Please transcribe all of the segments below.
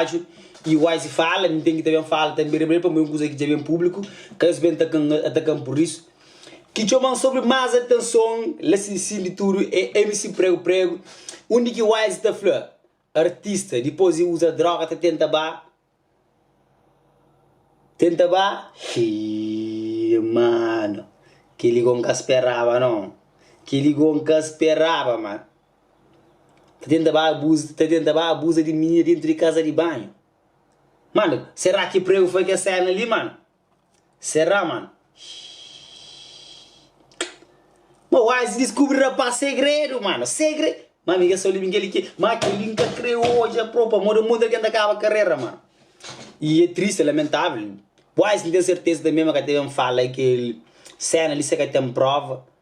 rádiu y waze fala mi ten ki ta ben fala tanbe ribera pamodi é un kuza ki dja ben públiku ka nhos ben atakan pur isu ki txoban sobri más atenson la si sin di tudu é mc pregu pregu undi ki waze ta fla artista dipôs di uza droga ta tenta ba Tenta ba, xii, mano, keli go nka speraba non, keli go nka speraba ma, ta tenta ba abuza, ta tenta ba abuza di minina dentro di kaza di banho, mano, sera ki prego foi ke sena li mano? Será mano? Ma wise diskubri rapaz segredu mano, segre. Ma mi ka sa libi kel ki, ma kel-li n ka kre odja pró pamodi un monti di algen ta kaba karera mano. I e tristi, e lamentável. Wise n ten serteza tanbe ma ka ta ben fala kel séna li si el ka ten próva.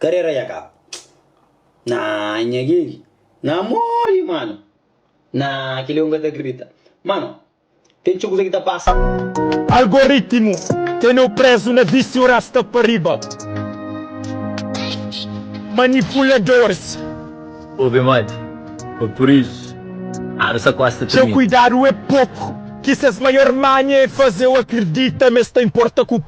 Karera dja kaba. Naa nha Gaby na morre mano naa kel li eu nunca ta acredita mano tem txeu kuza ki ta passa. Algoritmo teneu prezu na viciu rasta pa riba manipuladores. Obi modi foi por isso anu sa kosta trinta. Txeu kuidadu é poku ki ses maior manha é fazeu acredita ma es ta importa ku.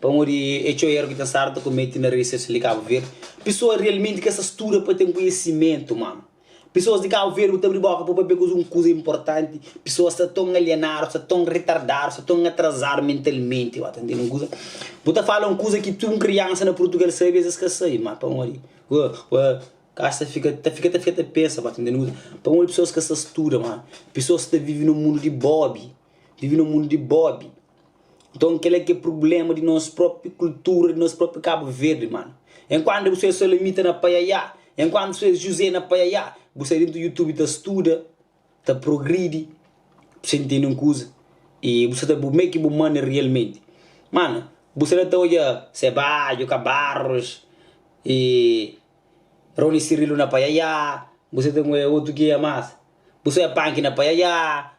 Pamodi é txeu éru ki ten stadu ta komete na redi sosial di Kabu Verdi. Pesoas realmenti ka sta studa pa ten koinhisimentu, mano. Pesoas di Kabu Verdi, bu ta abri boka pa bu pabia kuzê un kuza inportanti. Pesoas sta ton alienadu, sta ton retardadu, sta ton atrazadu mentalmenti, ba ta ntende un kuza. Bu ta fala un kuza ki tudu un kriansa na Purtugal sabe, es es ka sabe, ma pamodi ka sta fika ta fika ta fika ta pensa, ba ta ntende un kuza. Pamodi pesoas ka sta studa, mano. Pesoas sta vive na un mundu di bóbi, vive na un mundu di bóbi. Nton kel-la ki é prubléma di nos própi kultura, di nos própi Kabu Verdi, mano. Enkuantu bu sta Salamita na paiaiá, enkuantu bu sta Juzé na paiaiá, bu sta dentu YouTube ta studa, ta progridi, sen tende un kuza, y bu sta ta meke bu manda rialmenti. Mano, bu sta na ta odja Sebádio, Kabarros, y Rony Cirilo na paiaiá, bu sta ta odja otu ki é más? Bu sta odja Panki na paiaiá,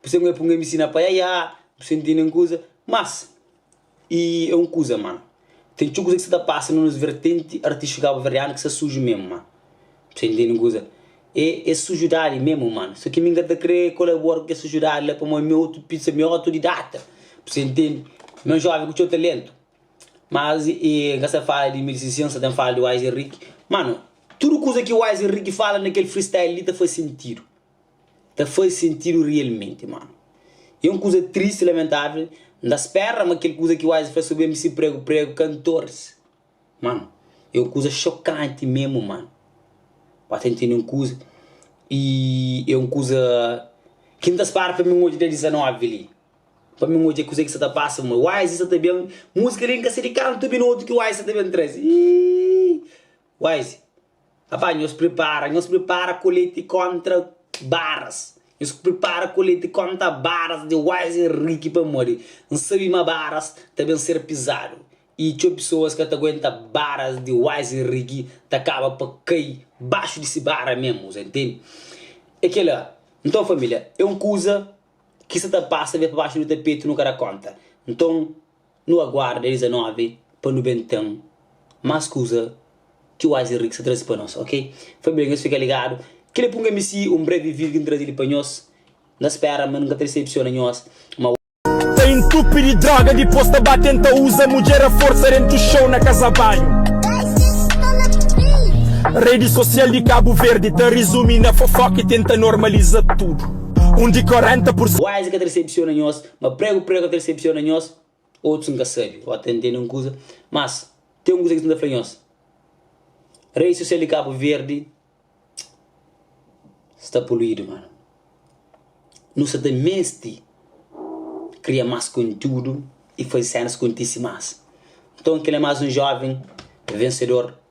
Pur se mui punga mi sina paiaiá, nu senti nen kuza. Mas, i é un kuza ma, ten txeu kuza ki sta ta pasa na nos vertenti artístiku kabuverianu ki sta suju memu ma. Bu senti nen kuza? É es sujudadi memu ma. So ki mi n ka ta kre kolabora ku kes sujudadi la pamodi mi otu pisa, mi otudidata, bu sa intendi, mi é un joven ku txeu talentu. Mas, i n ka sta ta fala di mi, di Sissi, n sta ta fala di Wise Henrique. Mano, tudu kuza ki Wise Henrique fala na kel freestyle li ta faze sentidu. ta faze sentidu rialmenti, má é un kuza tristi i lamentável N ta spera ma kel kuza ki Wise fla sobri mc Prego Prego ka ntorse Má é un kuza xokanti memu Má N ba ta ntende un kuza i é un kuza ki N ta spera pa mi odja dia 19 li Pa mi odja kuzê ki sa ta pasa ma Wise sa ta ben Múzika li N ka sedu kantu minotu ki Wise sa ta ben traze Iiiii Wise. Aba, nhos pripara, nhos pripara koleti kóntra baras, nhos pripara koleti kónta baras di Wise i Rick pamodi N sabe ma baras ta ben ser pizadu i txeu pesoas ka ta aguenta baras di Wise i Rick ta kaba pa kai baxu di se bara mésmu, bu ta intende? É kel-la. Nton, família, é un kuza ki sta ta pasa, ben pa baxu di tapetu, nu ka da kónta. Nton. Nu aguarda 19 pa nu ben ten más kuza ki Wise y Rick sta traze pa nos, ok? Foi bem, nhos fika ligadu. Kel é p'un MC, un breve vídeo ki N traze li pa nhos. N ta spera ma N ka ta desepsiona nhos, ma. Ta intupi di droga dipos ta ba tenta uza mudjer a forsa dentu show na kaza banhu redi sosial di kabu verdi ta rizumi na fofoka y tenta normaliza tudu un di 40 pur. Wise ka ta desepsiona nhos, Ma pregu, pregu ka ta desepsiona nhos, otus N ka sabe, o ta ntende un kuza, mas ten un kuza ki N ta fla nhos, rei sosial di Kabu Verdi sta poluidu, mano. Nu sta ta mesti kria mas kontiudu i faze sénas kontise mas. Nton, kel é mas un jóven vensedor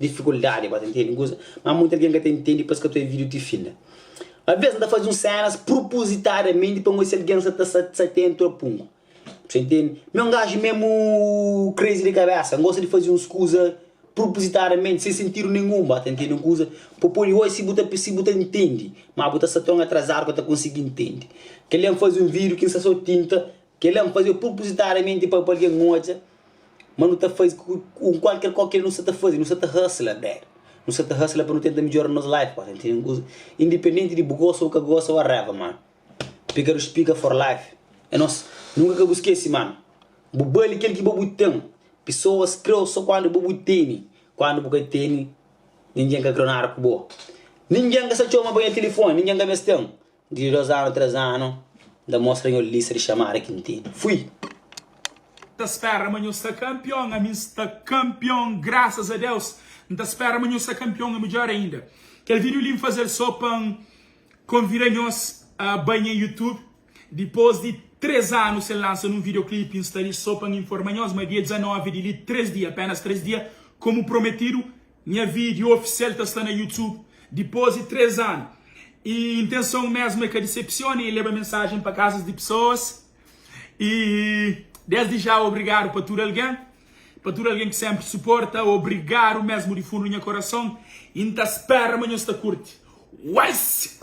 Difikuldadi pa ta ntende un kuza, má monti algen ka ta ntende pa es ka ta obi vídiu ti fin. Alvês N ta faze uns sénas prupuzitadamenti pa N odja si algen sta ta sta atentu a pungu. Meste N ntende ma é un gaji mésmu crazy di kabésa, N gosta di faze uns kuza prupuzitadamenti, sen sentidu nenhun. Bo ta ntende un kuza? Bo pode odja si bu ta si bu ta ntende, má bu ta sta ton atrazadu pa ta konsigi ntende. Kel-li é N faze un vídiu ki N sta sô tinta Kel-la N faze-u prupuzitadamenti pa bu algen odja ma nu ta faze ku kualker kó kel nu sta ta faze. Nu sta ta hasla bad. Nu sta ta hasla pa nu tenta midjora nos life, pa sentinu un kuza. Indipendenti di bu gosa ô ka gosa, ua raiva, mano. Pekadu spika for life. É nos. Nunka ka bu skese, mano. Bu bali kel ki bo bu ten. Pesoas kre-u sô kandu bo bu tene. Kandu bu ka tene, ningen ka kre-u nada ku bo. Ningen ka sta txoma pa nha tilifoni, ningen ka meste-m. Di dos anu tres anu. N ta mostra nho lista di xamada ki N tene. Fui! Ta spera ma nho sta campeon ami N sta campeon graças a Deus N ta spera ma nho sta campeon é midjor ainda Kel vídeo li N fazel só pa N convida nhos a bai nha youtube Dipos di tres anu sen lansa nun videoclip N sta li só pa N informa nhos ma dia 19 di li tres dia apenas tres dia como prometido Nha vídiu ofisial ta sta na YouTube dipôs di três anu. I intenson mésmu é ka disepsiona i leba mensajen pa kazas di pesoas. I désdi já obrigadu pa tudu algen, pa tudu algen ki sénpri suporta. Obrigadu mésmu di fundu di nha korason i N ta spéra ma nhos ta kurti. Uais!